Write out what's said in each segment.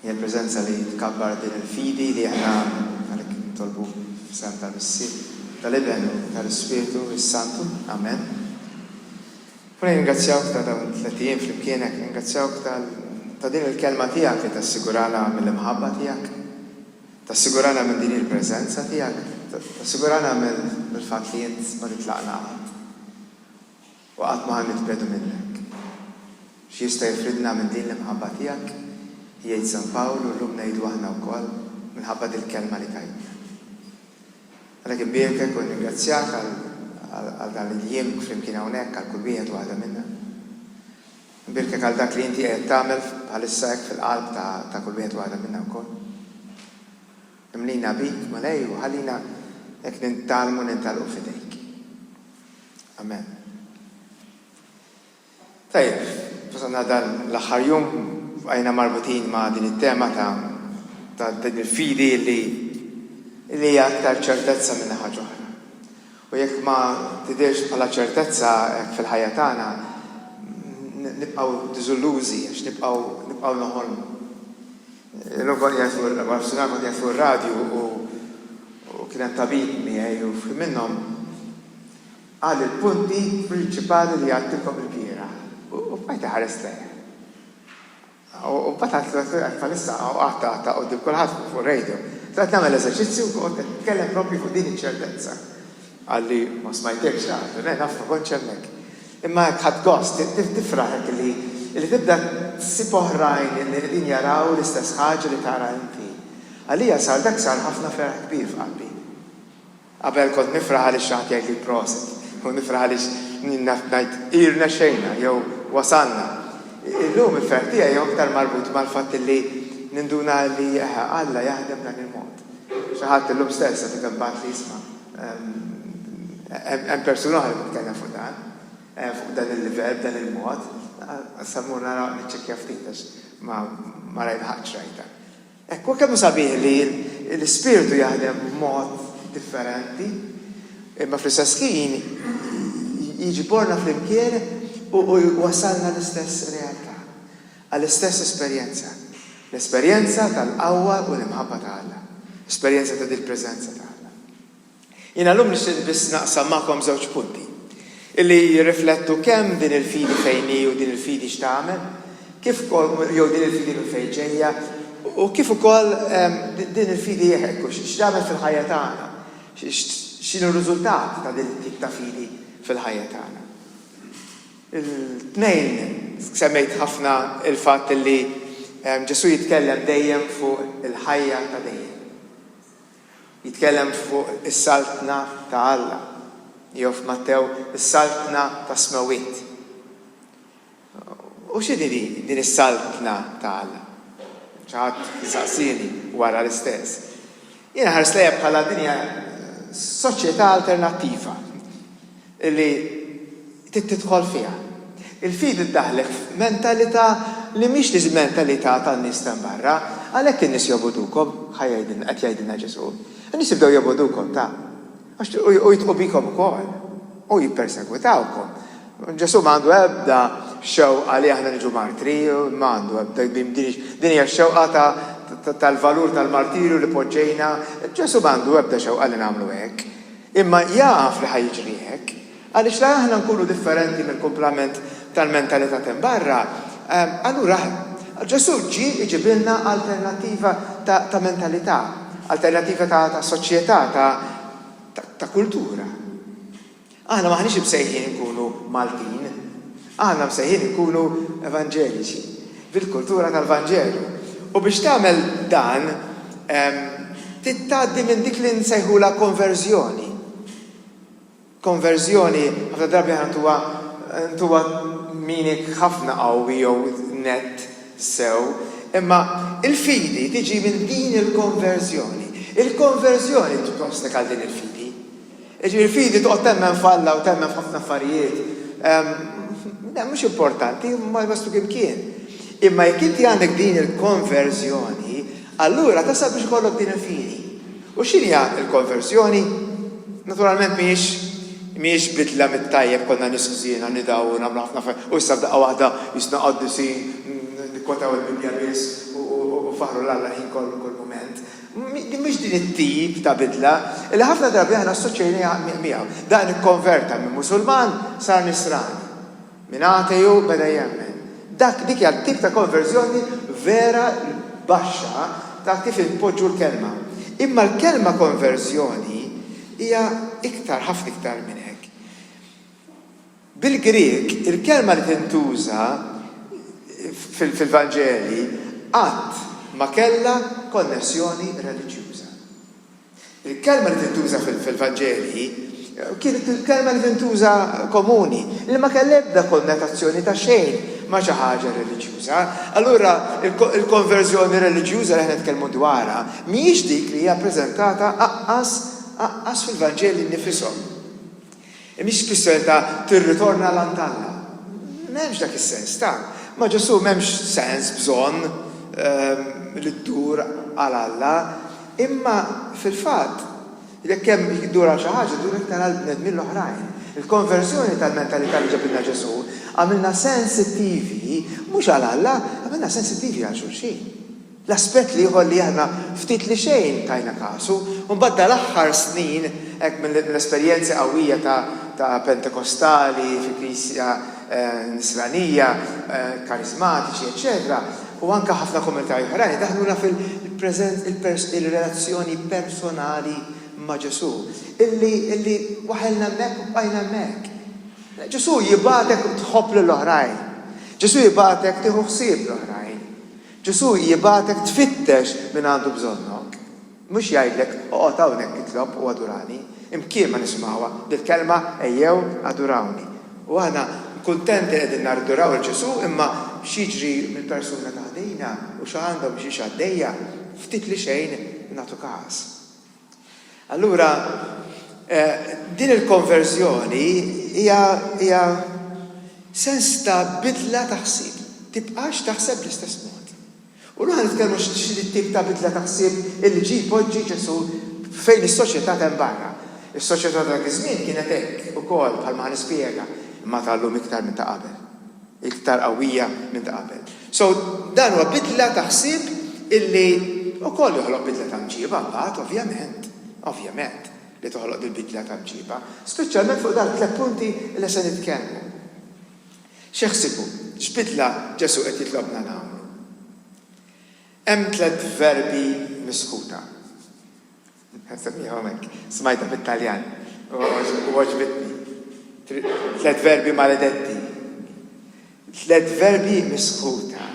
Hija l-preżenza li tkabbar din il-fidi li aħna għalhekk nitolbu f'isem tal-Missier, tal-Iben u tal-Ispirtu s-Santu. Amen. U nirringrazzjawk ta' dawn it-tliet ijiem flimkienek, nirringrazzjawk ta' din il-Kelma tiegħek li tassigurana mill-imħabba tiegħek, tassigurana minn din il-preżenza tiegħek, tassigurana mill-fatt li int ma titlaqna qatt. U qatt ma ħa nitbegħdu minnhekk. X'jista' jifridna minn din l-imħabba tiegħek? jgħid San Pawl u llum ngħidu aħna wkoll, minħabba dil-kelma li tajtna. Għalhekk inbierkek u nringrazzjak għal dan il-jiem flimkien hawnhekk għal kull wieħed u waħda minna. Inbierkek għal dak li inti qiegħed tagħmel bħalissa hekk fil-qalb ta' kull wieħed u waħda minna wkoll. Imlina bik, Mulej, u ħallina hekk nintgħallmu nintgħalqu f'idejk. Amen. Tajjeb, fasanna dan l-aħħar jum għajna marbutin ma' din it-tema ta' ta' din il-fidi li li hija aktar ċertezza minn ħaġa oħra. U jekk ma tidirx bħala ċertezza hekk fil-ħajja tagħna, nibqgħu diżillużi għax nibqgħu nibqgħu noħolmu. Il-logħba li għajt fuq l-arfsinar kont għajt fuq ir-radju u kien hemm tabib miegħi u f'ħin minnhom qal il-punti prinċipali li għattilkom il-bieraħ u bqajt iħares lejh. U mbagħad għad l-għajt bħalissa u għatta għatta u dik kulħadd fuq radio. Għad nagħmel eżerċizzju u tkellem propri fuq din iċ-ċertezza. Qal li, Ma smajtekx qabel. Le, naf, ma kontx hemmhekk. Imma hekk ħadt gost. Tifraħ hekk li li tibda ssib oħrajn li qegħdin jaraw l-istess ħaġa li tara inti. Għalija sar dak sar ħafna ferħ kbir f'qalbi. Qabel kont nifraħ għaliex xi ħadd jgħidli prosit, jew nifraħ għaliex naf ngħid irnexxejna jew wasalna. Illum il-ferħ tiegħi hu aktar marbut mal-fatt li ninduna li Alla jaħdem b'dan il-mod. Xi ħadd illum stess għadu kemm bagħatli isma' hemm persuna oħra li titkellem fuq dan, fuq dan il-livell, b'dan il-mod. Issa mmur nara niċċekkja ftit għax ma rajlħaqtx rajtha. Hekk, u kemm sabiħ li l-Ispirtu jaħdem b'mod differenti, imma fl-istess ħin jiġborna flimkien u jwassalna l-istess realtà. Għall-istess esperjenza, l-esperjenza tal-qawwa u l-imħabba ta' Alla, esperjenza ta' dil-preżenza ta' Alla. Jiena llum nixtieq biss naqsam magħkom żewġ punti, illi jirriflettu kemm din il-fidi fejn hi u din il-fidi x'tagħmel, kif ukoll jew din il-fidi minn fejn ġejja, u kif ukoll din il-fidi hekk u x'tagħmel fil-ħajja tagħna, x'inhu r-riżultat ta' din it-tip ta' fidi fil-ħajja tagħna. Il-tnejn semmejt ħafna l-fatt li Ġesù jitkellem dejjem fuq il-ħajja ta' dejjem. Jitkellem fuq is-Saltna ta' Alla, jew f'Mattew is-Saltna tas-Smewwiet. U x'inhi din is-Saltna ta' Alla? Xi ħadd saqsieni wara l-istess. Jiena ħarist lejha bħala din hija soċjetà alternattiva li Trid tidħol fiha. Il-fidi ddaħħlek f'mentalità li mhix l-mentalità tan-nies t'hemm barra. Għalhekk in-nies jobogħdukom, ħa jgħidilna, qed jgħidilna Ġesù. In-nies jibdew jobogħdukom ta'. Għax u jitqu bikom ukoll. U jippersegwitawkom. Ġesù ma għandu ebda xewqa li aħna niġu martri, ma għandu ebda, din hija x-xewqa ta' tal-valur tal-martirju li poġġejna. Ġesù ma għandu ebda xewqa li nagħmlu hekk. Imma jaf li ħa jiġri hekk, għaliex la aħna nkunu differenti mill-kumplament tal-mentalità t'hemm barra, allura Ġesù ġie iġibilna alternattiva ta' mentalità, alternattiva ta' soċjetà, ta' kultura. Aħna m'aħniex imsejħin inkunu Maltin. Aħna msejħin inkunu evanġeliċi, bil-kultura tal-Vanġelu. U biex tagħmel dan, trid tgħaddi minn dik li nsejħulha konverżjoni. Konverżjoni ħafna drabi aħna ntuha ntuha meaning ħafna qawwi jew nett sew, imma l-fidi tiġi minn din il-konverżjoni. Il-konverżjoni tiġi obstacle għal din il-fidi. Jiġifieri l-fidi toqgħod temmen f'Alla u temmen f'ħafna affarijiet, le mhux importanti, ma jwassluk imkien. Imma jekk inti għandek din il-konverżjoni, allura tasal biex ikollok din il-fidi. U x'inhi l-konverżjoni? Naturalment mhijiex mhijiex bidla mit-tajjeb konna nisħżiena nidaw u nagħmlu ħafna affarijiet u issa f'daqqa waħda jisna qaddisin nikkotaw il-Bibbja biss u faħru l-Alla l-ħin kollu kull mument. Mhix din it-tip ta' bidla li ħafna drabi aħna assoċjajnejha miegħu. Dan ikkonverta minn Musulman sar Nisrani. Minn ateju beda jemmen. Dak, dik hija t-tip ta' konverżjoni vera baxxa ta' kif inpoġġu l-kelma. Imma l-kelma konverżjoni hija iktar, ħafna iktar minn hekk. Bil-Grieg, il-kelma li tintuża fil-Vanġeli qatt ma kellha konnessjoni reliġjuża. Il-kelma li tintuża fil-Vanġeli kienet il-kelma li tintuża komuni, li ma kellha ebda konnotazzjoni ta' xejn ma' xi ħaġa reliġjuża. Allura, il-konverżjoni reliġjuża li aħna nitkellmu dwarha mhijiex dik li hija ppreżentata aqqas fil-Vanġeli nnifishom. Hi mhix tfisser ta' tirritorna l-għand t'Alla. M'hemmx dak is-sens ta'. Ma' Ġesù m'hemmx sens, bżonn, li ddur għal Alla. Imma, fil-fatt, jekk hemm ddur għal xi ħaġa, ddur iktar għall-bnedmin l-oħrajn. Il-konverżjoni tal-mentalità li ġabilna Ġesù għamilna sensittivi mhux għal Alla, għamilna sensittivi għal xulxin. L-aspett l-ieħor li aħna ftit li xejn tajna kasu, u mbagħad dal-aħħar snin, hekk mill-esperjenzi qawwija ta' Pentekostali fi Knisja Nisranija, Kariżmatiċi, eċċetera, u anke ħafna komunitajiet oħrajn idaħħluna fil-preżent il-relazzjoni personali ma' Ġesù, illi waħelna hemmhekk u bqajna hemmhekk. Ġesù jibgħatek tħobb lill-oħrajn. Ġesù jibgħatek tieħu ħsieb l-oħrajn. Ġesù jibgħatek tfittex min għandu bżonnok, mhux jgħidlek oqgħod hawnhekk itlob u adurani. Imkien ma nisimgħuha dil-kelma ejjew adurawni. U aħna kuntenti li qegħdin naduraw lil Ġesù imma x'jiġri mill-persuna ta' ħdejna u x'għandha u biex hi għaddejja, ftit li xejn nagħtu każ. Allura, din il-konverżjoni hija sens ta' bidla ta' ħsieb. Tibqax taħseb bl-istess mod. U llum ħa nitkellmu x'tip ta' bidla ta' ħsieb illi ġie jpoġġi Ġesù fejn is-soċjetà t'hemm barra. Is-soċjetà ta' dak iż-żmien kienet hekk ukoll bħalma ħa nispjega, imma ta' llum iktar minn ta' qabel. iktar qawwija minn ta' qabel. So, dan huwa bidla ta' ħsieb illi wkoll joħloq bidla ta' mġiba mbagħad, ovvjament, ovvjament li toħloq dil-bidla ta' mġiba, speċjalment fuq dawk it-tliet punti li se nitkellmu. X'eħsibu, x'bidla Ġesù qed jitlobna nagħmlu? Hemm tliet verbi misħuta. Nsemmiha hawnhekk. Smajtha bit-Taljan u għoġbitni. Tliet verbi maledetti. Tliet verbi misħuta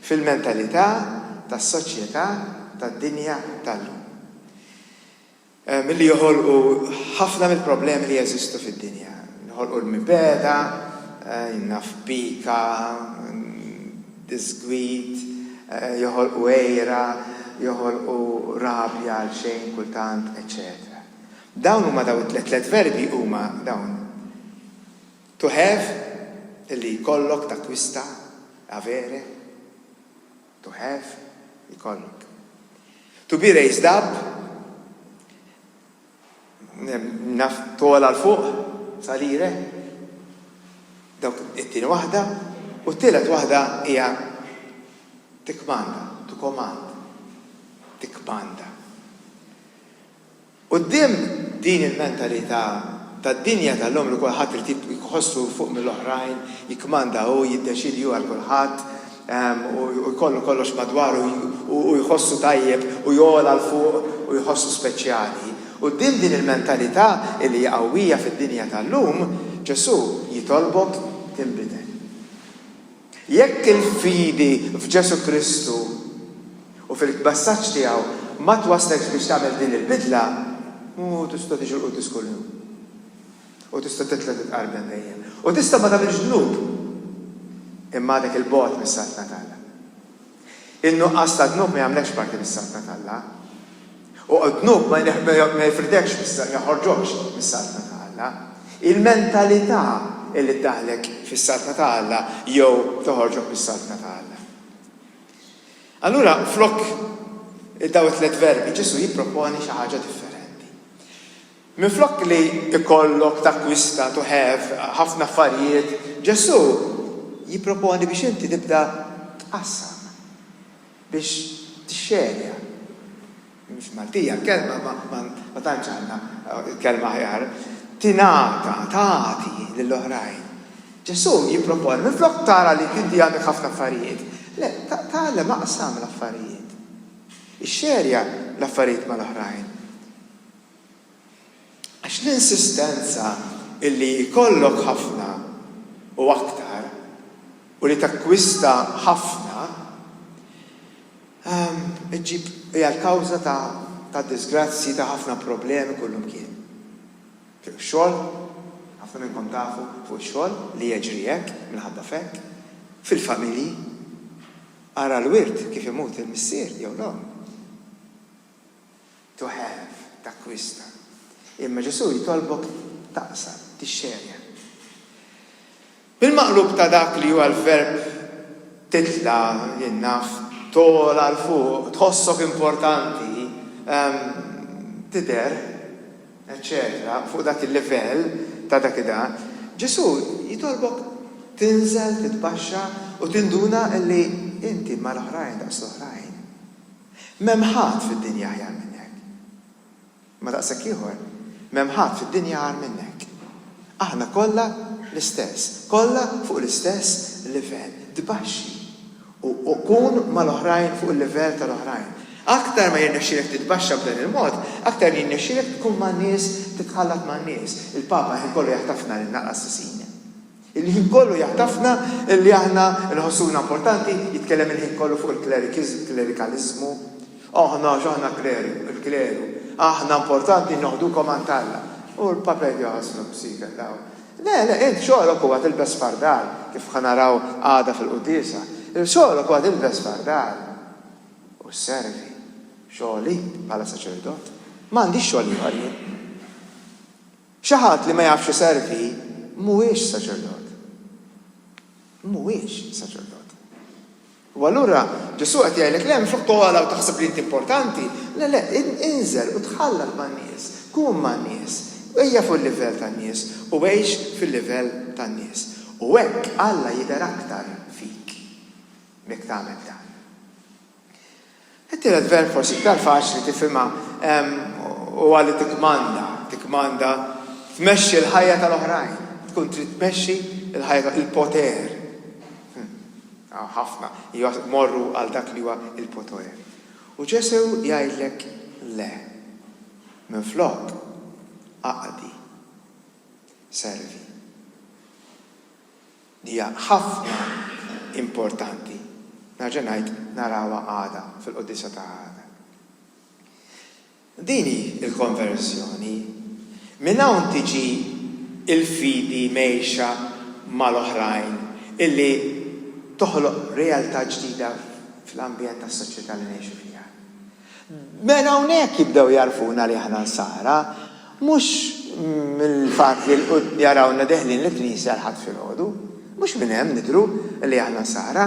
fil-mentalità tas-soċjetà tad-dinja tal-lum. Milli joħolqu ħafna mill-problemi li jeżistu fid-dinja. Joħolqu l-mibegħda, naf, pika, disgwid, joħolqu għira, joħolqu rabja għalxejn kultant, eċċetera Dawn huma dawn it-tliet tliet verbi huma dawn, to have, li jkollok, takkwista, avere, to have, jkollok. To be raised up, Naf togħla 'l fuq salire. Dawk it-tieni waħda. U t-tielet waħda hija tikkmanda, to command. Tikkmanda. Quddiem din il-mentalità tad-dinja tal-lum li kulħadd irid iħossu fuq mill-oħrajn, jikkmanda hu, jiddeċiedi hu għal kulħadd, u jkollu kollox madwaru u jħossu tajjeb u jogħla 'l fuq u jħossu speċjali. Quddiem din il-mentalità li hija qawwija fid-dinja tal-lum, Ġesù jitolbok tinbidel. Jekk il-fidi f'Ġesù Kristu u fil-messaġġ tiegħu ma twaslekx biex tagħmel din il-bidla, mhu tista' tiġi l-Quddies kuljum. U tista' titlob li tqarbel dejjem. U tista' ma tagħmilx dnub. Imma għadek 'il bogħod mis-saltna t'Alla. In-nuqqas ta' dnub ma jagħmlekx parti mis-saltna t'Alla. U d-dnub ma jifrdekx ma joħorġokx mis-saltna ta' Alla. Il-mentalità hi li ddaħħlek fis-saltna ta' Alla jew toħorġok mis-saltna ta' Alla. Allura flok dawn it-tliet verbi, Ġesù jipproponi xi ħaġa differenti. Minflok li jkollok takkwista, to have, ħafna affarijiet, Ġesù jipproponi biex inti tibda tqassam, biex tixxerja. Mhix Maltija l-kelma imma ma tantx għandna kelma aħjar. Tingħata, tagħti lil oħrajn. Ġesù jipproponi minflok tara li inti għandek ħafna affarijiet, le, tgħallem aqsam l-affarijiet. Ixxerja l-affarijiet mal-oħrajn. Għax l-insistenza illi jkollok ħafna u aktar u li takkwista ħafna ġġib hija l-kawża ta' diżgrazzji ta' ħafna problemi kullumkien. Fuq ix-xogħol, ħafna minnkom tafu fuq ix-xogħol li jeġri hekk minħabba f'hekk. Fil-familji. Ara l-wirt kif imut il-missier jew l-omm. to have, takkwista. Imma Ġesù jitolbok taqsam, tixxerja. Bil-maqlub ta' dak li huwa l-verb titla' jien naf, togħla 'l fuq, tħossok importanti, ehm, tidher, eċċetera, fuq dak il-livell ta' dak id Ġesù jitolbok tinżel, titbaxxa u tinduna li inti mal-oħrajn daqs l-oħrajn. M'hemm ħadd fid-dinja aħjar minnek. Imma daqshekk ieħor, m'hemm ħadd fid-dinja agħar minnek. Aħna kollha l-istess, kollha fuq l-istess livell. Tbaxxi u kun mal-oħrajn fuq il-livell tal-oħrajn. Aktar ma jirnexxielek titbaxxa b'dan il-mod, aktar jirnexxielek tkun man-nies, titħallat man-nies. Il-Papa ħin kollu jaħtafna lilna qassisin. Il-ħin kollu jagħtafna li aħna nħossuna importanti, jitkellem il-ħin kollu fuq il-klerikiżm, klerikaliżmu. Aħna x'aħna kleru, il-kleru, aħna importanti noħdukom għand Alla. U l-Papa jgħid joħosnu b'siker daw. Le, le, int xogħlok huwa tilbes fardal, kif ħa naraw għada fil-quddiesa. Xogħlok huwa tilbes fardal u sservi. Xogħli bħala saċerdot. M'għandix xogħol ieħor jien. Xi ħadd li ma jafx iservi mhuwiex saċerdot. Mhuwiex saċerdot. U allura Ġesù qed jgħidlek, le mhux oqgħod togħla u taħseb li int importanti. Le, le, inżel u tħallat man-nies, kun man-nies, ejja fuq il-livell tan-nies u għix fil-livell tan-nies. U hekk Alla jidher aktar fik jekk tagħmel dan. It-tielet verb forsi iktar faċli tifhimha huwa li tikkmanda, tikkmanda, tmexxi l-ħajja tal-oħrajn, tkun trid tmexxi l-ħajja tal-oħrajn, il-poter. Hawn ħafna jmorru għal dak li huwa l-poter. U Ġesù jgħidlek le. Minflok, aqdi. Servi. li hija ħafna importanti, nerġa' ngħid, narawha għada fil-Quddiesa ta' għada. Din hi l-konverżjoni. Minn hawn tiġi l-fidi mgħejxa mal-oħrajn illi toħloq realtà ġdida fl-ambjent tas-soċjetà li ngħixu fiha. Mela hawnhekk jibdew jagħrfuna li aħna Nsara, mhux mill-fatt li jarawna deħlin l-knisja l-Ħadd filgħodu, mhux minn hemm nidhru li aħna Nsara,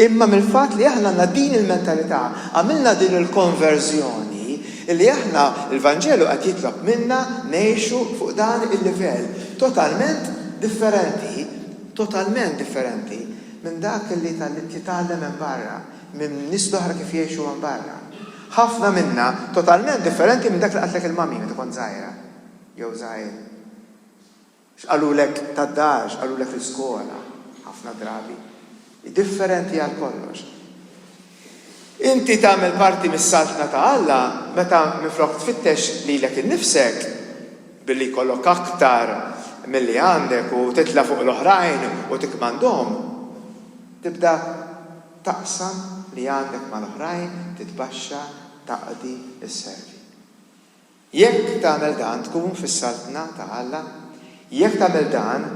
imma mill-fatt li aħna għandna din il-mentalità, għamilna din il-konverżjoni li aħna l-Vanġelu qed jitlob minna ngħixu fuq dan il-livell totalment differenti, totalment differenti minn dak li titgħallem hemm barra. minn nies l-oħra kif jgħixu hemm barra. Ħafna minna totalment differenti minn dak li qaltlek il-mummy meta kont żgħira jew żgħir. X'qalulek tad-dar, x'qalulek fl-iskola, ħafna drabi, hi differenti għal kollox. Inti tagħmel parti mis-Saltna ta' Alla meta minflok tfittex lilek innifsek billi jkollok aktar milli għandek u titla' fuq l-oħrajn u tikkmandhom, tibda taqsam li għandek mal-oħrajn, titbaxxa, taqdi, isservi. Jekk tagħmel dan tkun fis-Saltna ta' Alla, jekk tagħmel dan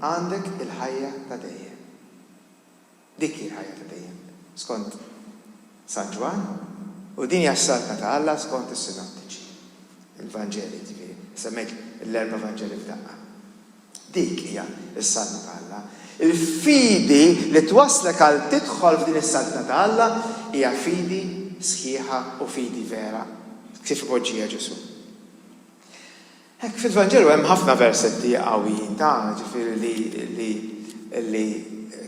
għandek il-ħajja ta' dejjem. Dik hi l-ħajja ta' dejjem, skont San Ġwann, u din hija s-Saltna ta' Alla skont is-Sinottiċi, il-Vanġeli jiġifieri, semmejt l-erba' Vanġeli f'daqqa. Dik hija s-Saltna ta' Alla. Il-fidi li twasslek għal tidħol f'din is-Saltna ta' Alla hija fidi sħiħa u fidi vera, kif ipoġġiha Ġesù. Hekk, fil-Vanġelu hemm ħafna versetti qawwijin ta', ġifieri li, li, li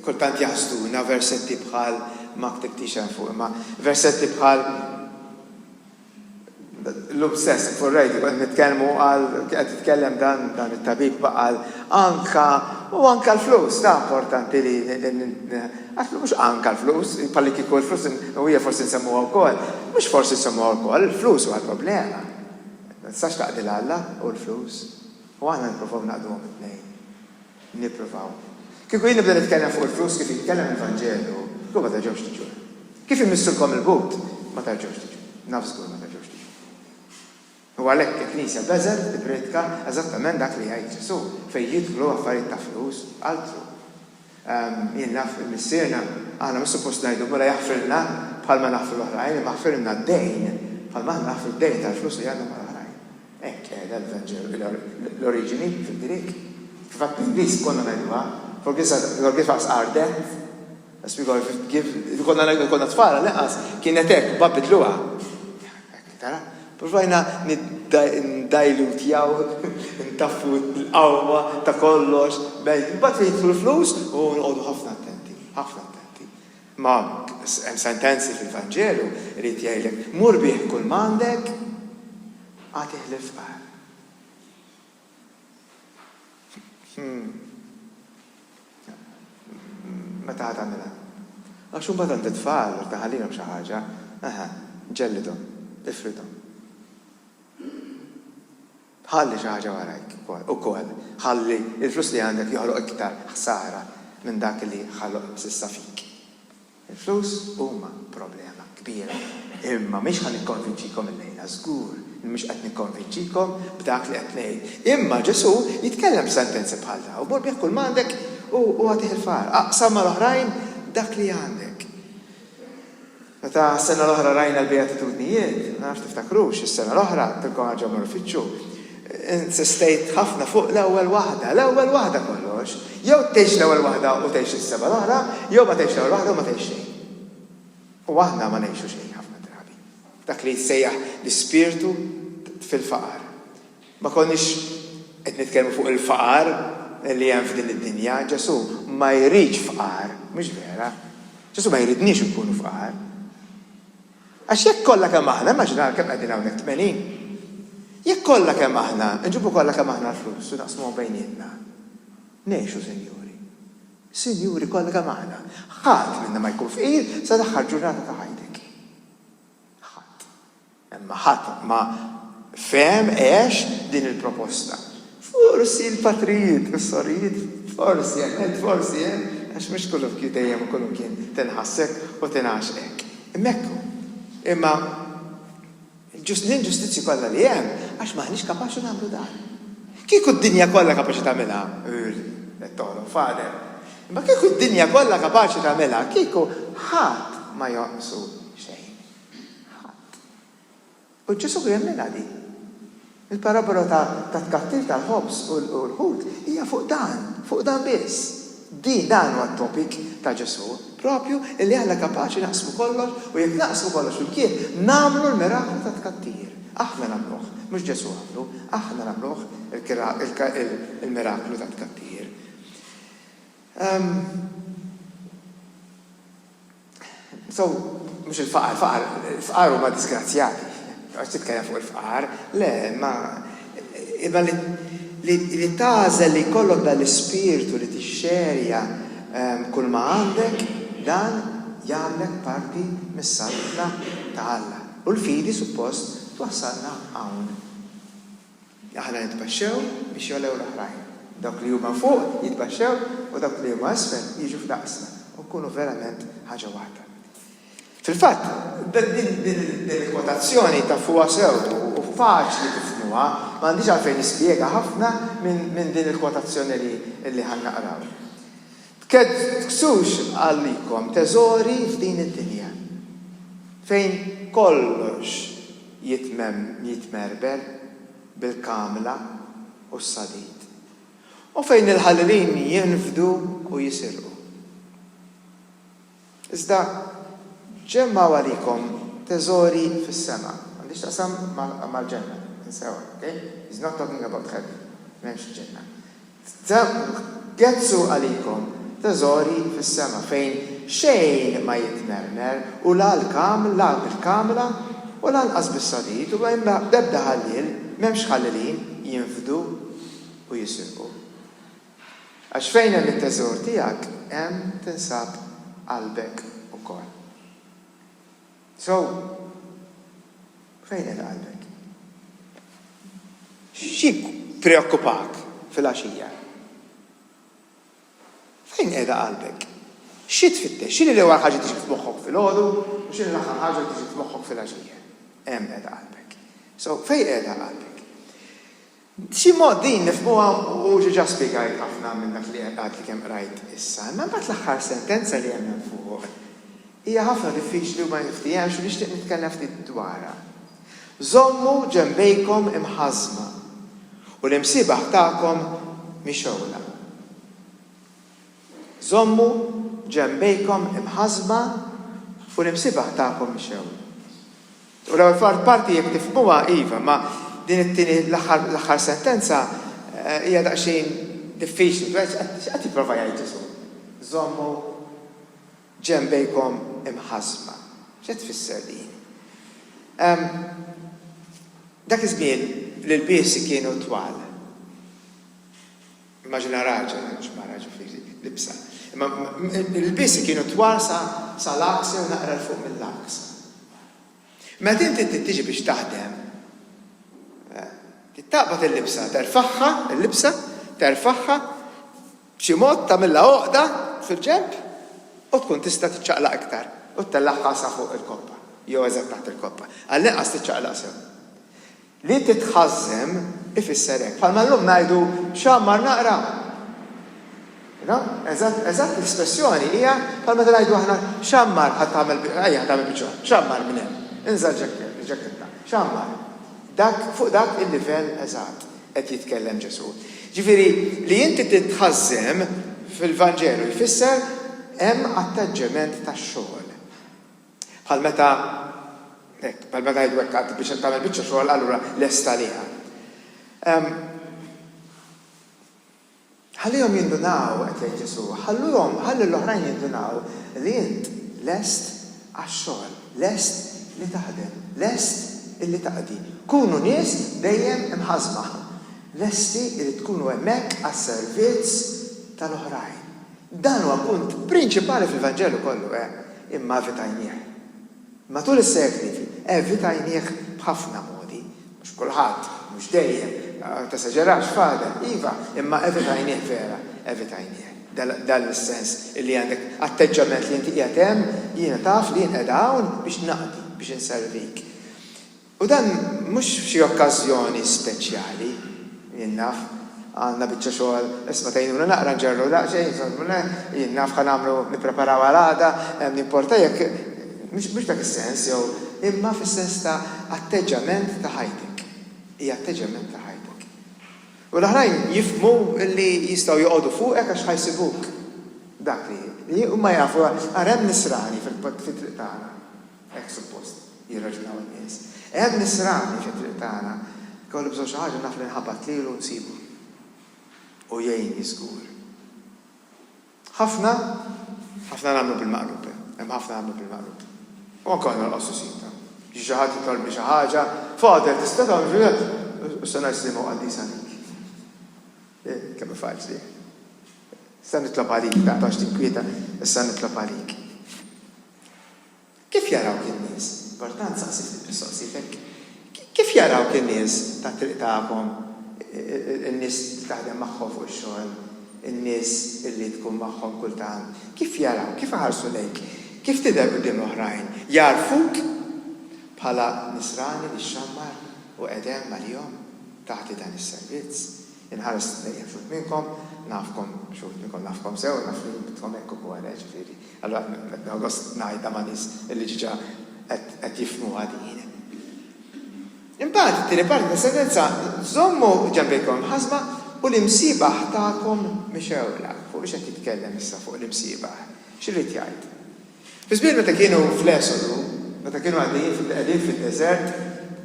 kultant jaħsduna versetti bħal ma ktibtix hemm fuq, imma versetti bħal Llum stess fuq ir-radio konna qed nitkellmu għal kien qed jitkellem dan dan it-tabib ma qal anka u anka l-flus ta' importanti li għax mhux anka l-flus bħalli kieku l-flus u hija forsi nsemmuha wkoll. Mhux forsi nsemmuha wkoll, il-flus huwa l-problema. Ma tistax taqdi l-Alla u l-flus. U aħna nippruvaw naqduhom it-tnejn. Nippruvaw. Kieku jien nibda nitkellem fuq il-flus kif jitkellem il-Vanġelu, kieku ma terġgħux tiġu. Kif immissulkom il-but, ma terġgħux tiġu. Naf żgur ma terġgħux tiġu. U għalhekk il-Knisja Beżel tippriedka eżattament dak li jgħid Ġesù, fejn jidħlu affarijiet ta' flus, altru. Jien naf il-Missierna, aħna mhux suppost ngħidu, Mulej aħfrilna bħalma naħfru l-oħrajn, imma aħfrilna d-dejn bħalma aħna naħfru d-dejn tal-flus li għandna mal-oħrajn. Hekk qiegħda l-Vanġelu, l-oriġini fil-Grieg, kif għad bl-Ingliż konna ngħiduha, forgive-us our death, as we forgive, konna ngħidu konna tfal għall-inqas, kienet hekk, b'għad bidluha. Tara? Provajna niddajlutjaw, ntaffu l-qawwa ta' kollox, imbagħad jidħlu l-flus u nqogħdu ħafna attenti, ħafna attenti. Ma hemm sentenzi fil-Vanġelu, irid jgħidlek, mur bih kull m'għandek, agħtih lill-fqar. Hm. Meta ħa tagħmilha? Għax imbagħad għandi t-tfal, irid inħallilhom xi ħaġa. Eħe, ġellidhom, ifridhom. Ħalli xi ħaġa warajk ukoll. Ħalli l-flus li għandek joħloq iktar ħsara minn dak li ħaloq s'issa fik. Il-flus huma problema kbira, imma mhix ħa nikkonvinċikom illejla, żgur li mhux qed nikkonvinċikom b'dak li qed ngħid. Imma Ġesù jitkellem b'sentenzi bħal dawn, Mur bigħ kull m'għandek u agħtih il-fqar. Aqsam mal-oħrajn dak li għandek. Meta s-sena l-oħra rajna l-Beatitudnijiet, ma nafx tiftakrux, is-sena l-oħra, għedtilkom ħaġa mmorru f'Fittxu, insistejt ħafna fuq l-ewwel waħda, l-ewwel waħda kollox. Jew tgħix l-ewwel waħda u tgħix is-seba' l-oħra, jew ma tgħix l-ewwel waħda u ma tgħix xejn. U aħna ma ngħixu xejn ħafna drabi. Dak li jissejjaħ l-ispirtu fil-faqar. Ma konniex qed nitkellmu fuq il-faqar li hemm f'din id-dinja. Ġesù ma jridx fqar, mhux vera? Ġesù ma jridniex inkunu fqar. Għax jekk kollha kemm aħna, immaġinaw kemm qegħdin hawnhekk, tmenin? Jekk kollha kemm aħna, nġibu kollha kemm aħna l-flus u naqsmuhom bejnietna. Ngħixu, Sinjuri. Sinjuri, kollha kemm aħna. Ħadd minna ma jkun fqir sa l-aħħar ġurnata ta' ħajtek. Ħadd. Imma ħadd ma fehem għex din il-proposta. Forsi l-patrijiet u s-sorijiet, forsi hemm hekk, forsi hemm, għax mhux kullimkien dejjem u kullimkien tinħass hekk u tingħax hekk. Imma hekk hu. Imma l-inġustizzji kollha li hemm għax m'aħniex kapaċi nagħmlu dan. Kieku d-dinja kollha kapaċi tagħmilha, ur, qed toħlom f'għadeb, imma kieku d-dinja kollha kapaċi tagħmilha, kieku ħadd ma jonqsu xejn. Ħadd. U Ġesù jemminha din. Il-parabbola tat-tkattir tal-ħobż u l-ħut hija fuq dan, fuq dan biss. Din, dan huwa t-topic ta' Ġesù, proprju illi aħna kapaċi naqsmu kollox u jekk naqsmu kollox flimkien nagħmlu l-miraklu tat-tkattir. Aħna nagħmluh, mhux Ġesù għamlu, aħna nagħmluh il-miraklu tat-tkattir. Umm. So, mhux il-faqar, faqar, fqar huma disgrazzjati. Għax titkellem fuq il-fqar, le, imma imma li li tagħżel li jkollok dan l-ispirtu li tixxerja ehm, kull ma għandek, dan jagħmlek parti mis-saltna ta' Alla. U l-fidi suppost twassalna hawn. Aħna nitbaxxew biex jogħlew l-oħrajn. Dawk li huma fuq jitbaxxew u dawk li huma isfel jiġu f'daqsna u nkunu verament ħaġa waħda. Fil-fatt, din il-kwotazzjoni tafuha sew u faċli tifhmuha, ma għandix għalfejn nispjega ħafna minn din il-kwotazzjoni li ħa naqraw. Tkeddksux għalikom teżori f'din id-dinja, fejn kollox jitmermer bil-kamla u s-sadid, u fejn il-ħalilin jinfdu u jisirqu. Iżda ġemmgħu għalikom teżori fis-sema. M'għandhiex x'taqsam mal-ġenna, insewha, ok? He's not talking about heaven. M'hemmx ġenna. Gezzgħu għalikom teżori fis-sema fejn xejn ma jitmermer u la l-kaml, la l-kamla u lanqas bis-sadid u b'ebda ħalliel, m'hemmx ħallilin jinfdu u jisirqu. Għax fejn hemm it-teżor tiegħek, hemm tinsab qalbek ukoll. So, fejn qiegħda qalbek? X'jippreokkupak filgħaxija? Fejn qiegħda qalbek? Xi tfittex? X'inhi l-ewwel ħaġa li tiġi f'moħħok filgħodu u x'inhi l-aħħar ħaġa li tiġi f'moħħok filgħaxija? Hemm qiegħda qalbek. So, fejn qiegħda qalbek? B'xi mod din nifhmuha u diġà spjegajt ħafna minn dak li qed għadni kemm qrajt issa. Imma mbagħad l-aħħar sentenza li hemm hemm fuq hija ħafna diffiċli u ma niftiehemx u nixtieq nitkellem ftit dwarha. Żommu ġenbejkom imħażżma u l-imsiebaħ tagħkom mixgħula. Żommu ġenbejkom imħassba u l-imsibah tagħkom ixeww. U l-ewwel parti jekk tifhmuha, iva, imma din it-tieni l-aħħar sentenza hija daqsxejn diffiċli. X'qed jipprova jgħid Ġesù? Żommu ġenbejkom imħassba. X'qed tfisser din? Dak iż-żmien l-ilbiesi kienu twal. Immaġina raġel, mhux mara, ġifieri, libsa. Imma l-ilbiesi kienu twal sa l-għaks jew naqra 'l fuq mill-għaks. Meta inti trid tiġi biex taħdem, trid taqbad il-libsa, terfagħha, il-libsa, terfagħha, b'xi mod tagħmilha għoqda fil-ġenb u tkun tista' tiċċaqlaq iktar u ttellagħha sa fuq il-koppa jew eżatt taħt il-koppa. Għall-inqas tiċċaqlaq sew. Li titħażżem ifisser hekk. Bħalma llum ngħidu, X'għammar naqra! You know? Eżatt, eżatt l-espressjoni hija bħal meta ngħidu aħna, X'għammar ħa tagħmel, ejja ħa tagħmel biċċa, x'għammar minn hemm? Inża' l-ġakketta. X'għammar? Dak, fuq dak il-livell eżatt qed jitkellem Ġesù. Ġifieri, li inti titħażżem fil-Vanġelu jfisser hemm attaġġement ta' xogħol. Bħal meta, hekk, bħal meta ngħidu hekk għad biex tagħmel biċċa xogħol allura lest għaliha. Ħallihom jindunaw, qed jgħid Ġesù, ħalluhom, ħalli l-oħrajn jindunaw li int lest għax-xogħol, lest li taħdem, lest illi taqdi. Kunu nies dejjem imħażma, lesti li tkunu hemmhekk għas-servizz tal-oħrajn, Dan huwa punt prinċipali fil-Vanġelu kollu, eh, imma evitajnieh. Matul is-sekli, evitajnieh b'ħafna modi. Mhux kulħadd, mhux dejjem, ma tesaġerax, Father, iva, imma evitajnieh vera, evitajnieh. Dan l-sens li għandek atteġġament li inti qiegħed hemm, jiena taf li jien qiegħda hawn biex naqdi, biex inservik. U dan mhux f'xi okkażjoni speċjali. Jien naf, għandna biċċa xogħol, isma' tgħinuna naqra nġerru daqsxejn, jien naf ħa nagħmlu nippreparaw għal għada, m'jimporta jekk, mhux f'dak is-sens jew, imma fis-sens ta' atteġġament ta' ħajtek. Hija atteġġament ta' ħajtek. U l-oħrajn jifhmu li jistgħu joqogħdu fuqek għax ħa jsibuk dak li, huma jafu, ara hemm nisrani fit-triq tagħna. Hekk suppost jirraġunaw in-nies. Hemm nisrani fit-triq tagħna. Ikolli bżonn xi ħaġa naf li nħabat lilu u nsibu. U jgħinni żgur. Ħafna, ħafna nagħmlu bil-maqlub, hemm ħafna nagħmlu bil-maqlub. U anke aħna nqassu sidna. Jiġi xi ħadd jitolbni xi ħaġa, Father, tista' tagħmel xi ħaġa? U se ngħid liema u qaddisa għalik. Eh, kemm hi faċli. Se nitlob għalik, tant għax tinkwieta, issa nitlob għalik. Kif jarawk in-nies? Bertran saqsi ftit mistoqsijiet hekk. Kif jarawk in-nies tat-triq tagħkom, in-nies li taħdem magħhom fuq ix-xogħol, in-nies li tkun magħhom kultant? Kif jarawk? Kif iħarsu lejk? Kif tidher quddiem l-oħrajn? Jagħrfuk bħala nisrani li xxammar u qedem għalihom tagħti dan is-servizz? Inħares lejn uħud minnkom, nafkom, xi wħud minnkom nafkom sew, naf li intkom hekk ukoll, eh, ġifieri. Allura nieħu gost ngħidha ma' nies li diġà qed jifhmuha din. Imbagħad it-tieni parti tas-sentenza, Żommu ġenbejkom imħassba u l-imsiebaħ tagħkom mixewla. Fuq x'qed jitkellem issa fuq l-imsiebaħ? X'irid jgħid? Fi żmien meta kienu fl-Esodu, meta kienu għaddejjin qegħdin fid-deżert,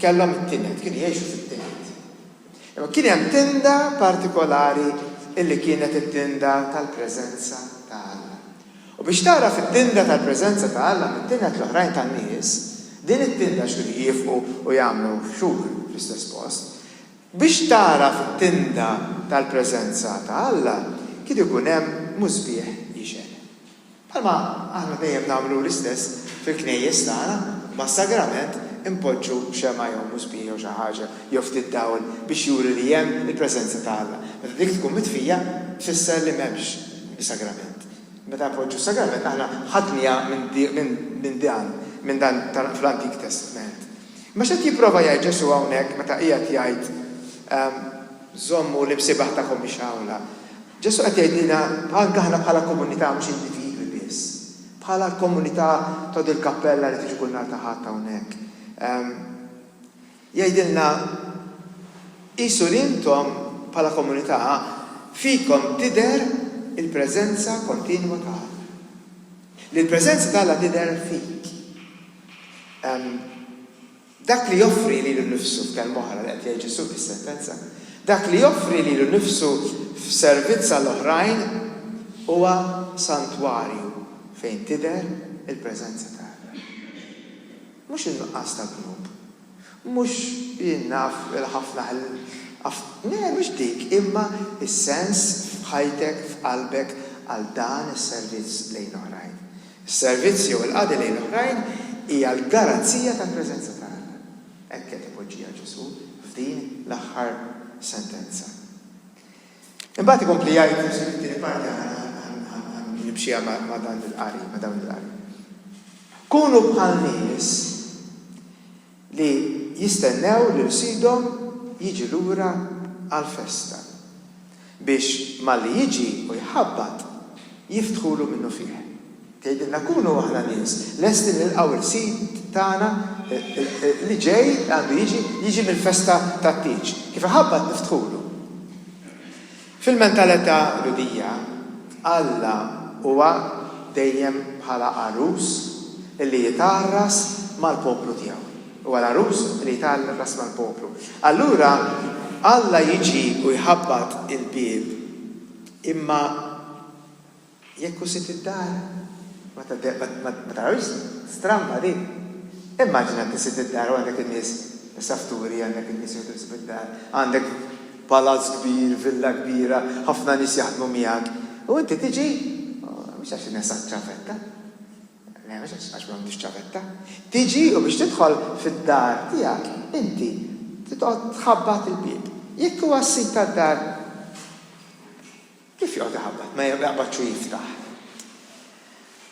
kellhom it-tined, kienu jgħixu fit-tined. Imma kien hemm tinda partikolari li kienet it-tinda tal-preżenza ta' Alla. U biex tagħraf it-tinda tal-preżenza ta' Alla mit-tined l-oħrajn tan-nies, din it-tinda x'kienu jjiefqu u jagħmlu xhur fl-istess post, biex tagħraf it-tinda tal-preżenza ta' Alla, kien ikun hemm musbieħ jixgħel. Bħalma aħna dejjem nagħmlu l-istess fil-knejjes tagħna, mas-sagrament inpoġġu xemgħa jew musbieħ jew xi ħaġa jew ftit dawl biex juri li hemm il-preżenza ta' Alla. Meta dik tkun mitfija, tfisser li m'hemmx is-sagrament. Meta npoġġu s-sagrament aħna ħadniha minn dan, minn dan fl-Antik Testment. Imma x'qed jipprova jgħid Ġesù hawnhekk meta qiegħed jgħid, Żommu l-imsiebaħ tagħkom mixgħula? Ġesù qed jgħidilna anke aħna bħala komunità mhux individwi biss, bħala l-komunità ta' din il-kappella li tiġi kull nhar ta' Ħadd hawnhekk. Jgħidilna qisu li intom bħala komunità fikom tidher il-preżenza kontinwa ta' Alla. Li l-preżenza ta' Alla tidher fik. Dak li joffri lilu nnifsu, f'kelma oħra, li qed jgħid Ġesù fis-sentenza, dak li joffri lilu nnifsu f'servizz għall-oħrajn huwa santwarju fejn tidher il-preżenza ta' Alla. Mhux in-nuqqas ta' dnub, mhux jien naf il-ħafna le, mhux dik, imma s-sens f'ħajtek, f'qalbek għal dan is-servizz lejn l-oħrajn. Is-servizz jew il-qadi lejn l-oħrajn hija l-garanzija tal-preżenza ta' Alla. Hekk qed ipoġġiha Ġesù f'din l-aħħar sentenza. Imbagħad ikompli jgħid Ġesù fit-tieni parti, ħa nimxieha ma' dan il-qari, ma' dawn il-qari. Kunu bħal nies. li jistennew lil sidhom jiġi lura għall-festa biex malli jiġi u jħabbat jiftħulu minnufih. Tgħidilna kunu aħna nies lesti nilqgħu l-sid tagħna li ġej, li għandu jiġi, jiġi mill-festa tat-tieġ. Kif iħabbat niftħulu. Fil-mentalità Lhudija, Alla huwa dejjem bħala għarus li jitgħarras mal-poplu tiegħu. Huwa l-għarus li jitgħarras mal-poplu. Allura Alla jiġi u jħabbat il-bieb, imma Jekk hu sit id-dar, ma tarawhiex stramba din? Immaġina inti sit id-dar u għandek in-nies safturi, għandek in-nies jgħodu ħsieb id-dar, għandek palazz kbir, villa kbira, ħafna nies jaħdmu miegħek, u inti tiġi, mhux għax in-nies għad ċavetta, le mhux għax għax m'għandux ċavetta, tiġi u biex tidħol fid-dar tiegħek inti trid toqgħod tħabbat il-bieb. Jekk huwa s-sid tad-dar, Kif joqgħod iħabbat? Ma jaqbadx u jiftaħ?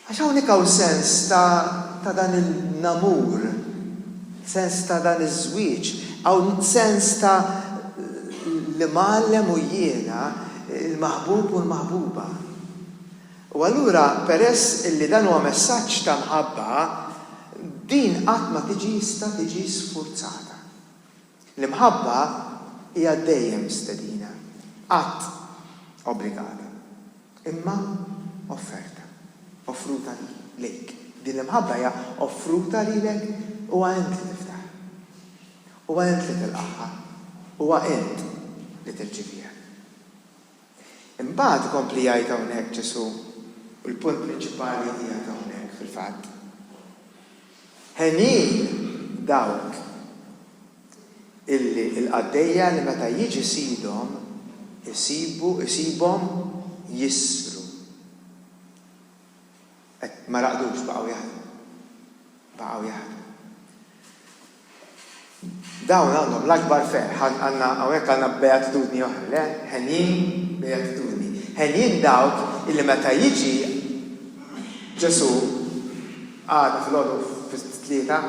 Għax hawnhekk hawn sens ta' ta' dan il-namur, sens ta' dan iż-żwieġ, hawn sens ta' l-imgħallem u jiena, il-maħbub u l-maħbuba. U allura peress illi dan huwa messaġġ ta' mħabba, din qatt ma tiġi jista' tiġi sfurzata. L-imħabba hija dejjem stedina, qatt obbligata, imma offerta, offruta lejk. Din l-imħabba hija offruta lilek, huwa int li tiftaħ. Huwa int li tilqagħha, huwa int li tirċieviha. Imbagħad ikompli jgħid hawnhekk Ġesù, u l-punt prinċipali qiegħed hawnhekk fil-fatt, Henin dawk illi l-qaddejja li meta jiġi sidhom isibu isibhom jisru. Qed ma raqdux baqgħu jaħdmu. Baqgħu jaħdmu. Dawn għandhom l-akbar ferħ. Għandna, hawnhekk għandna beatitudni oħra, le? Henjin, beatitudni. Henjin dawk illi meta jiġi Ġesù għada filgħodu fit-tlieta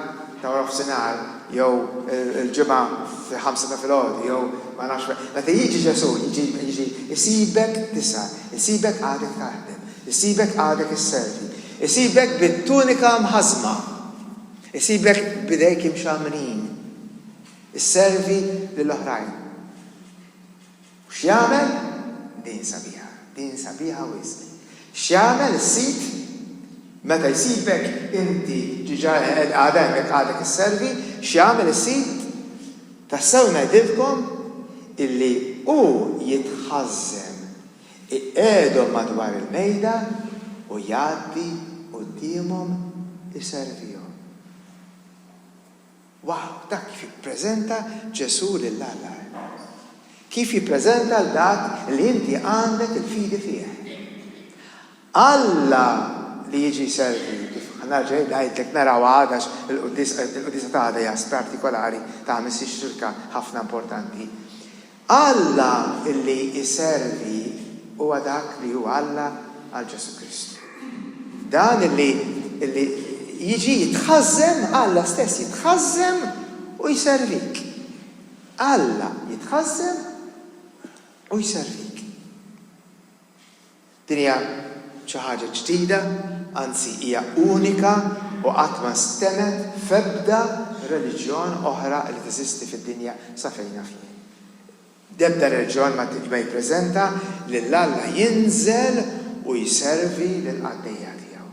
ta' warofsinhar jew il-Ġimgħa fil-ħamsa ta' filgħodu jew ma nafx meta jiġi Ġesù jiġi jiġi isibek tisa, isibek għadek taħdem, isibek għadek isservi, isibek bit-tunika mħażma. Isibek b'idejk imxammrin isservi lil oħrajn. U x'jagħmel? Din sabiħa. Din sabiħa wisq. X'jagħmel is-sid meta jsibek inti diġà qed għad hemm jekk għadek isservi, x'jagħmel is-sid? Tassew ngħidilkom illi hu jitħażżen Iqegħedhom madwar il-mejda u jgħaddi quddiemhom iservihom. Wow! Dak kif jippreżenta Ġesù lil Alla! Kif jippreżenta 'l dak li inti għandek il-fidi fih! Alla li jiġi servit, kif ħanerġa' ngħidlek naraw għada għax il-quddiesa ta' għada hija partikolari ta' ħamis ix-xirka ħafna importanti. Alla li jservi huwa dak li hu Alla għal Ġesù Kristu. Dan li jiġi jitħażżen, Alla stess jitħażżen u jservik. Alla jitħażżen u jservik. Din hija xi ħaġa ġdida, anzi hija unika u qatt ma nstemgħet f'ebda reliġjon oħra li teżisti fid-dinja sa fejn naf jien. D'ebda reliġjon ma jippreżenta lil Alla jinżel u jservi lill-qaddejja tiegħu.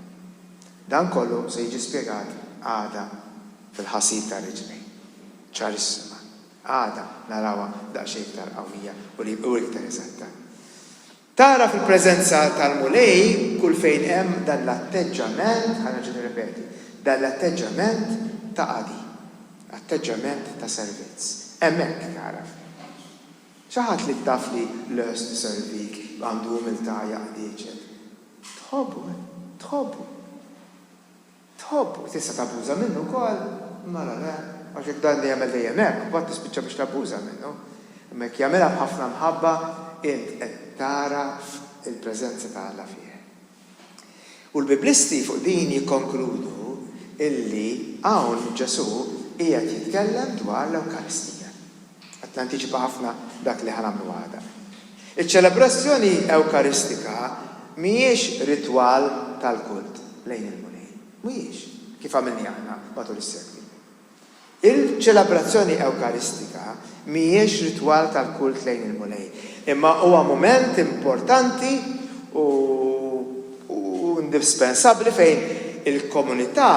Dan kollu se jiġi spjegat għada fil-ħasil tar-Riġlejn. Ċarissima. Għada narawha daqsxejn iktar qawwija u iktar eżatta. Tagħraf il-preżenza tal-Mulej kull fejn hemm dan l-atteġġament, ħa nerġa' nirrepeti, dan l-atteġġament ta' qadi, atteġġament ta' servizz. Hemmhekk tagħraf. Xi ħadd li taf li lest iservik, għandu umiltà jaqdi, eċċetera. Tħobbu, tħobbu. tħobb u tista' tabbuża minnu wkoll, mela le, għax jekk dan jagħmel dejjem hekk, imbagħad tispiċċa biex tabbuża minnu. Imma jekk jagħmilha b'ħafna mħabba, int qed tagħraf il-preżenza ta' Alla fih. U l-Biblisti fuq din jikkonkludu illi hawn Ġesù qiegħed jitkellem dwar l-Ewkaristija. Qed nantiċipa ħafna dak li ħa nagħmlu għada. Iċ-ċelebrazzjoni Ewkaristika mhijiex ritwal tal-kult lejn il-Mulej. Mhijiex, kif għamilniha aħna matul is-sekli. Il-ċelebrazzjoni Ewkaristika mhijiex ritwal tal-kult lejn il-Mulej, imma huwa mument importanti u u indispensabbli fejn il-komunità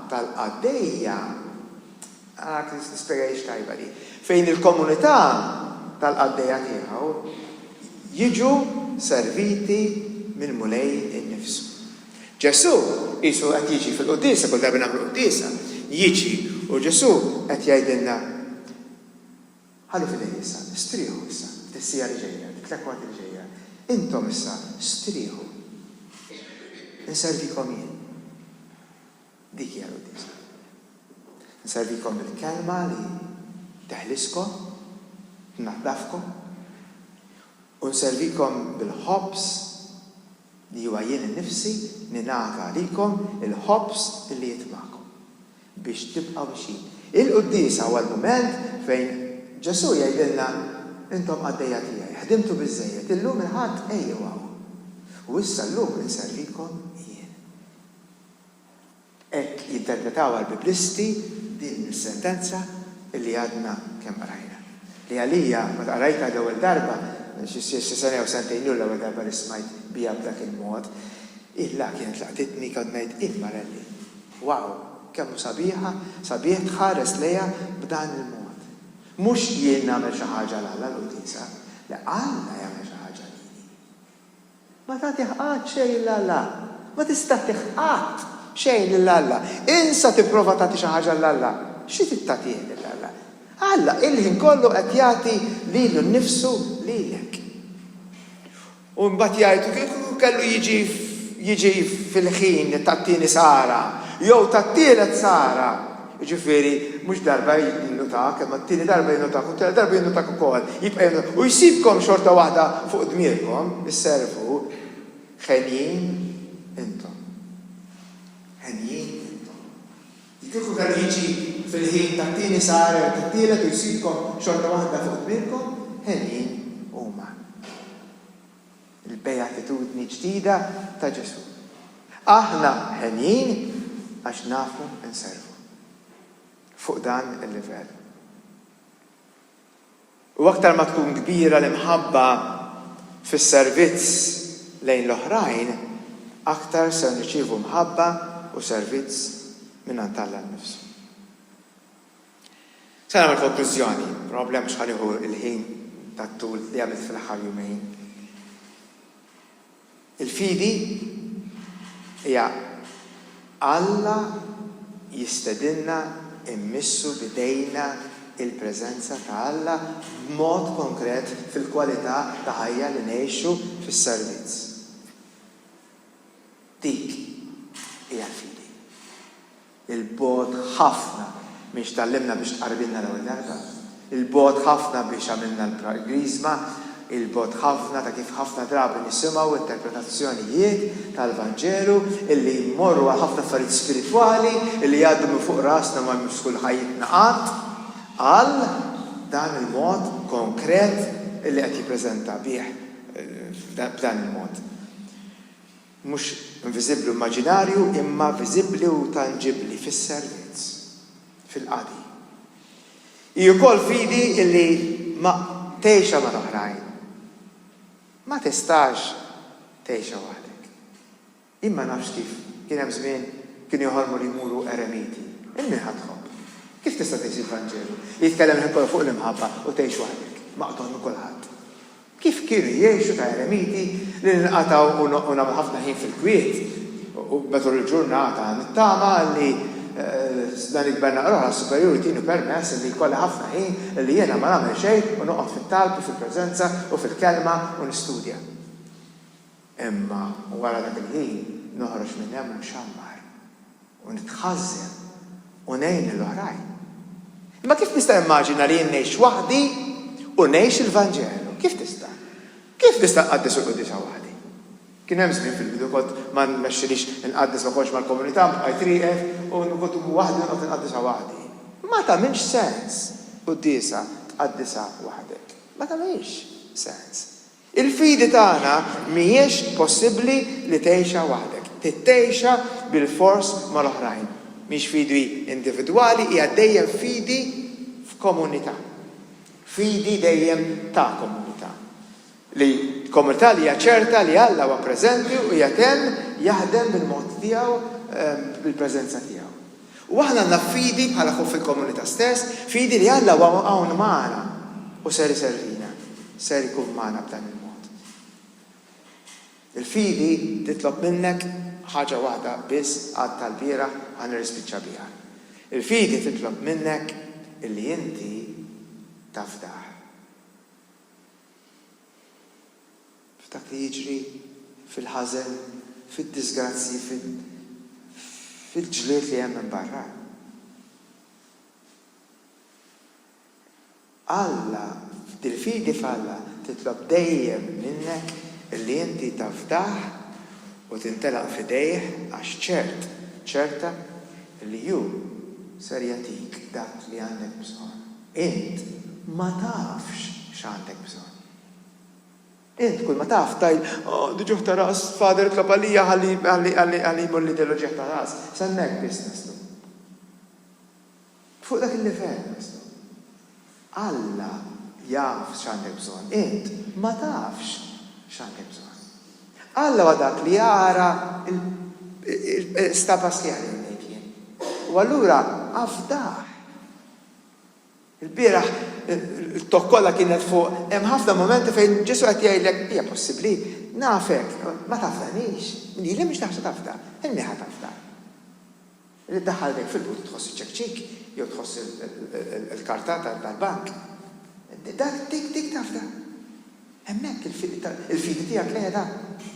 tal-qaddejja, Ah, tispjega hix tajba di. Fejn il-komunità tal-qaddejja tiegħu jiġu serviti mill-Mulej innifsu. Ġesù qisu qed jiġi fil-quddiesa, kull darba nagħmlu quddiesa, jiġi u Ġesù qed jgħidilna, Ħallu fidejja issa, strieħu issa, f'tis-siegħa li ġejja, fit-tlekwart li ġejja, intom issa strieħu. Inservikom jien. Dik hija l-Quddiesa. Nservikom bil-Kelma li teħliskom, tnaddafkom, u nservikom bil-ħobż li huwa jien innifsi ningħata għalikom, il-ħobż li jitbagħkom biex tibqgħu mixjin. Il-Quddiesa huwa l-mument fejn Ġesù jgħidilna, Intom qaddejja tiegħi, ħdimtu biżżejjed, illum il-Ħadd ejjew hawn, u issa llum inservikom jien. Hekk jinterpretawha l-Biblisti din is-sentenza li għadna kemm qrajna. Li għalija, meta qrajtha l-ewwel darba, xi sena jew sentejn ilu l-ewwel darba li smajt biha b'dak il-mod, ilha kienet laqtitni, kont ngħid, Immarelli! Wow! Kemm hu sabiħa, sabiħ tħares lejha b'dan il-mod. Mhux jien nagħmel xi ħaġa 'l Alla, l-Quddiesa, le Alla jagħmel xi ħaġa lili. Ma tagħtih qatt xejn 'l Alla. Ma tista' tih qatt xejn lil Alla. Insa tipprova tagħti xi ħaġa 'l Alla. Xi trid tagħtih lil Alla? Alla il-ħin kollu qed jagħti lilu nnifsu lilek. U mbagħad jgħid, kieku kellu jiġi jiġi fil-ħin tat-tieni sara, jew tat-tielet sara. Jiġifieri, mhux darba jinnutak, imma t-tieni darba jinnutak u t-tielet darba jinnutak ukoll. Jibqa' jinnutak u jsibkom xorta waħda fuq dmirkom isservu. Henjin intom. Henjin intom. Li kieku kellu jiġi fil-ħin tat-tieni sahar jew tat-tielet u jsibkom xorta waħda fuq dmirkom, henjin huma. il-bejatitudni ġdida ta' Ġesù, Aħna henjin għax nafu nservu. Fuq dan il-livell. U aktar ma tkun kbira l-imħabba fis-servizz lejn l-oħrajn, aktar ser nirċievu mħabba u servizz mingħand Alla nnifsu. Se nagħmel konklużjoni, probabbli mhux ħa nieħu l-ħin tat-tul li għamilt fl-aħħar jumejn. Il-fidi hija Alla jistedinna mmissu b'idejna l-preżenza ta' Alla b'mod konkret fil-kwalità ta' ħajja li ngħixu fis-servizz. Dik hija l-fidi. Il-bogħod ħafna minn x'tgħallimna biex tqarrilna l-ewwel darba. Il-bogħod ħafna biex għamilna l-Griżma. Il-bogħod ħafna ta' kif ħafna drabi nisimgħu interpretazzjonijiet tal-Vanġelu illi jmorru għal ħafna affarijiet spiritwali illi jgħaddu minn fuq rasna ma jmissux kull ħajjitna qatt, għal dan il-mod konkret illi qed jippreżenta bih, b'dan il-mod. Mhux inviżibbli u immaġinarju, imma viżibbli u tanġibbli fis-servizz, fil-qadi. Hi wkoll fidi li ma tgħixha mal-oħrajn. Ma tistax tgħixha waħdek. Jien ma nafx kif kien hemm żmien kienu joħolmu li jmuru eremiti. Lil min ħa tħobb? Kif tista' tgħix il-Vanġelu li jitkellem ħin kollu fuq l-imħabba u tgħix waħdek, maqtugħ minn kulħadd? Kif kienu jgħixu ta' eremiti li ninqatgħu u noqgħu nagħmlu ħafna ħin fil-kwiet u matul il-ġurnata nittama li dan il-Gvern naqra oħra superjuri jtini permess li jkolli ħafna ħin li jiena ma nagħmel xejn u noqgħod fit-talb u fil-preżenza u fil-kelma u nistudja. Imma wara dak il-ħin noħroġ minn hemm mxammar, u nitħażżen, u ngħin lil oħrajn. Imma kif nista' nimmaġina li jien ngħix waħdi u ngħix il-Vanġelu? Kif tista'? Kif nista' nqaddes il-Quddiesa waħdi? Kien hemm żmien fil-bidu kont ma nmexxilix inqaddes ma kontx mal-komunità, bqajt rieqed u kont immur waħdi u noqgħod inqaddisha waħdi. Ma tagħmilx sens quddiesa tqaddisha waħdek. Ma tagħmilx sens. Il-fidi tagħna mhijiex possibbli li tgħixha waħdek. Trid tgħixha bilfors mal-oħrajn. Mhix fidi individwali, hija dejjem fidi f'komunità. Fidi dejjem ta' komunità. Li komunità li hija ċerta li Alla huwa preżenti u qiegħed hemm jaħdem bil-mod tiegħu, bil-preżenza tiegħu. U aħna għandna fidi bħala ħut fil-komunità stess, fidi li Alla huwa hawn magħna u ser iservina, ser ikun magħna b'dan il-mod. Il-fidi titlob minnek ħaġa waħda biss għad tal-bieraħ ħa nirrispiċċa biha. Il-fidi titlob minnek illi inti tafdah. f'dak li jiġri, fil-ħażen, fid-diżgrazzji, fil-ġlied li hemm minn barra. Alla, il-fidi f'Alla titlob dejjem minnek li inti tafdah u tintelaq f'idejh għax ċert, ċerta li hu ser jagħtik dak li għandek bżonn. Int ma tafx x'għandek bżonn. Int kull ma taf tgħid, Oh, di ġuħ ta' ras, Father itlob għalija ħalli, ħalli, ħalli, ħalli jmur l-Idel u ġieħ ta' ras. S'hemmhekk biss naslu. Fuq dak il-livell naslu. Alla jaf x'għandek bżonn, int ma tafx x'għandek bżonn. Alla huwa dak li jara l, l-stat passjali li ngħid jien. U allura afdah. Il-bieraħ t-togħ kollha kienet fuq hemm ħafna mumenti fejn Ġesù qed jgħidlek, Hija possibbli? Nafek, ma tafdanix. Li li mhix naħseb tafda, ilni ħa tafda. Li ddaħħal idejk fil-but u tħoss iċ-ċekċik jew tħoss il-karta tal-bank. Dak dik dik tafda. Hemmhekk il-fidi tiegħek qiegħda.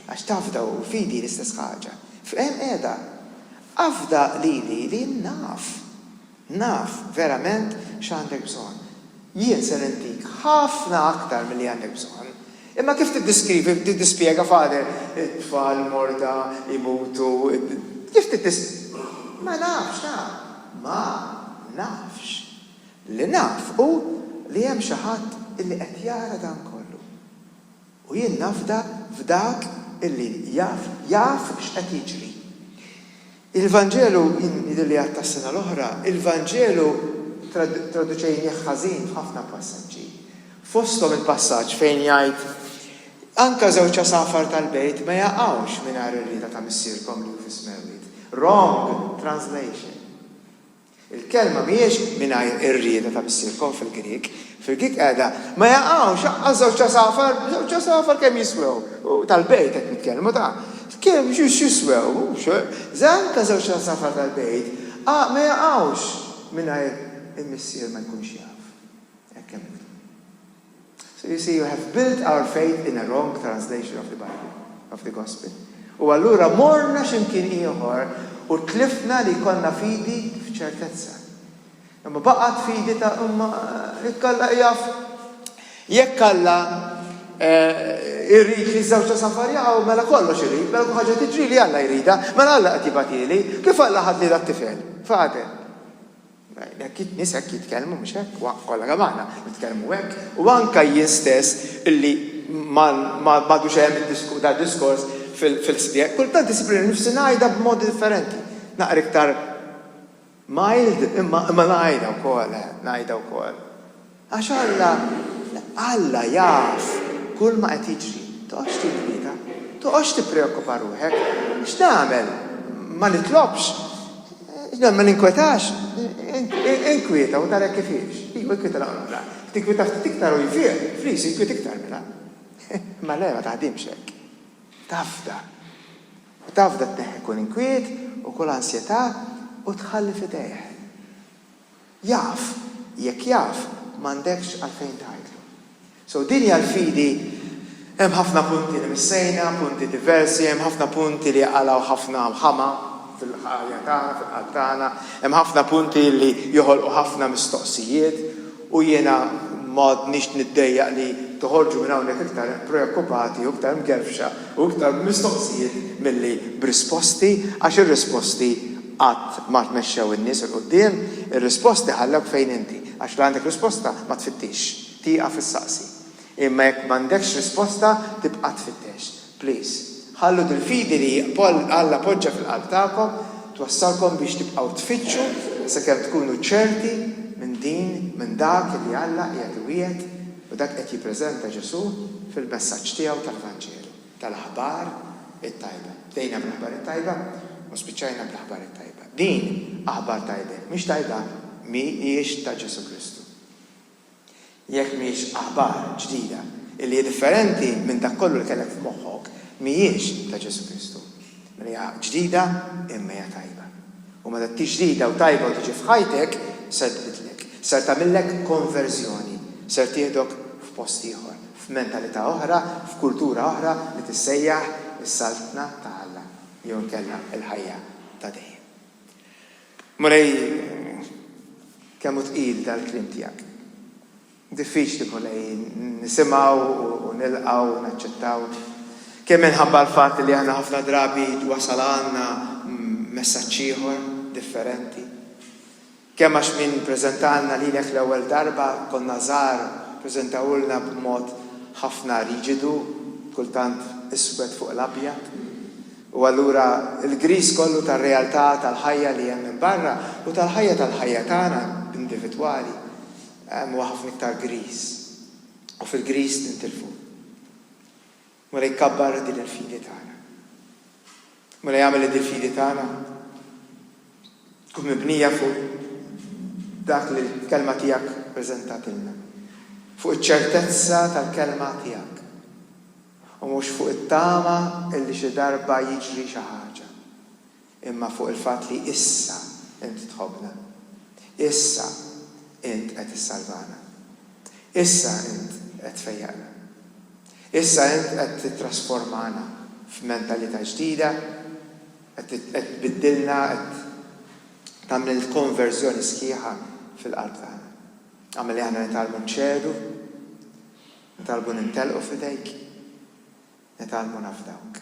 Għax tafda u l-fidi l-istess ħaġa. Hemm qiegħda. Afda lili li naf. Naf verament x'għandek bżonn. Jien ser intik ħafna aktar milli għandek bżonn. Imma kif tiddiskrivi, tiddispjega, Father, it-tfal morda, imutu, kif tiddis. Ma nafx, naf. Ma nafx. Li naf hu li hemm xi ħadd illi qed jara dan kollu. U jien nafda f'dak illi jaf, jaf x'qed jiġri. Il-Vanġelu, jien jidhirli li għadtha s-sena l-oħra, il-Vanġelu traduċejnieh ħażin f'ħafna passaġġi. Fosthom il-passaġġ fejn jgħid, Anke żewġ għasafar tal-bejt ma jaqgħux mingħajr ir-rieda ta' Missierkom li hu fis-Smewwiet. Wrong translation. Il-kelma mhijiex mingħajr ir-rieda ta' missierkom fil-Grieg. Fil-Grieg qiegħda, Ma jaqgħux aqqas żewġ għasafar, żewġ għasafar kemm jiswew? Tal-bejt qed nitkellmu, ta? Kemm jiswew, mhux? Żgħażagħ ta' żewġ għasafar tal-bejt ma jaqgħux mingħajr il-missier ma jkunx jaf. Hekk hemm miktub. So you see you have built our faith in a wrong translation of the Bible, of the Gospel. U allura morna x'imkien ieħor u tlifna li jkollna fidi f'ċertezza. Imma baqgħet fidi ta' imma jekk Alla jaf jekk Alla eh, irrid li żewġ ta' safar jaqgħu mela kollox irid, mela kull ħaġa tiġri li Alla jrida, mela Alla qed jibatili, kif Alla ħadli dat-tifel? Fadel. Hekk in-nies hekk jitkellmu, mhux hekk? Wa, kollha kemm aħna nitkellmu hekk. U anke jien stess li m'għadux hemm dal-diskors fil-ħsbiegħ, kultant isib lili nnifsi ngħidha b'mod differenti. Naqra iktar mild, imma ngħidha wkoll, ngħidha wkoll. Għax Alla, Alla jaf kulma qed jiġri. Toqgħodx tinkwieta. Toqgħodx tippreokkupa ruħek. X'nagħmel? Ma nitlobx? X'nagħmel ma ninkwetax? Inkwieta u tara hekk kif hiex. Iva inkwieta naqra oħra. Tinkwieta ftit iktar u jfieq, flis inkwiet iktar mela. Ma le ma taħdimx hekk. Tafda. U tafda tneħħi kull inkwiet u kull ansjetà u tħalli f'idejh. Jaf, jekk jaf m'għandekx għalfejn tgħidlu. So din hija l-fidi hemm ħafna punti li missejna, punti diversi, hemm ħafna punti li jqalgħu ħafna ħama fil-ħajja tagħna, fil-qalb tagħna, hemm ħafna punti li joħolqu ħafna mistoqsijiet, U jiena m'għadnix niddejjaq li toħorġu minn hawnhekk iktar preokkupati u iktar mgerfxa u iktar b'mistoqsijiet milli b'risposti għax ir-risposti qatt ma mexxew in-nies 'il quddiem, ir-risposti ħallewk fejn inti għax la għandek risposta ma tfittixx, tieqaf issaqsi. Imma jekk m'għandekx risposta tibqa' tfittex. Please. Ħallu dil-fidi li Alla poġġa fil-qalb tagħkom twassalkom biex tibqgħu tfittxu sakemm tkunu ċerti minn din, minn dak li Alla qiegħed iwiegħed u dak qed jippreżenta Ġesù fil-messaġġ tiegħu tal-Vanġelu, tal-Aħbar it-Tajba. Bdejna bl-Aħbar it-Tajba u spiċċajna bl-Aħbar it-Tajba. Din aħbar tajba jekk mhix tajba mhijiex ta' Ġesù Kristu. Jekk mhix aħbar ġdida, illi hi differenti minn dak kollu li kellek f'moħħok, mhijiex ta' Ġesù Kristu. Mela hija ġdida imma hija tajba. U meta tkix ġdida u tajba u tiġi f'ħajtek, ser tbiddlek. Ser tagħmillek konverżjoni. Ser tieħdok f'post ieħor, f'mentalità oħra, f'kultura oħra li tissejjaħ is-Saltna ta' Alla, jew inkella l-ħajja ta' dejjem. Mulej, kemm hu tqil dal-kliem tiegħek. Diffiċli, Mulej, nisimgħu u nilqgħu u naċċettaw. Kemm minħabba l-fatt li aħna ħafna drabi wasal għandna messaġġ ieħor, differenti. Kemm għax min preżentalna lilek l-ewwel darba konna żgħar ppreżentawhulna b'mod ħafna riġidu, kultant iswed fuq l-abjad, u allura l-griż kollu tar-realtà tal-ħajja li hemm minn barra u tal-ħajja tal-ħajja tagħna individwali huwa ħafna iktar griż u fil-griż nintilfu. Mola jkabbar din il-fidi tagħna. Mola jagħmel li dil-fidi tagħna tkun mibnija fuq dak li l-kelma tiegħek preżentatilna. Fuq iċ-ċertezza tal-kelma tiegħek. U mhux fuq it-tama illi xi darba jiġri xi ħaġa. imma fuq il-fatt li issa int tħobbna. Issa int qed issalvana. Issa int qed tfejjaqna. Issa int qed tittrasformana f'mentalità ġdida, qed tbiddilna, qed tagħmel il-konverżjoni sħiħa fil-qalb tagħna. Agħmel li aħna nitgħallmu nċedu, nitgħallmu nintelqu f'idejk, nitgħallmu nafdawk.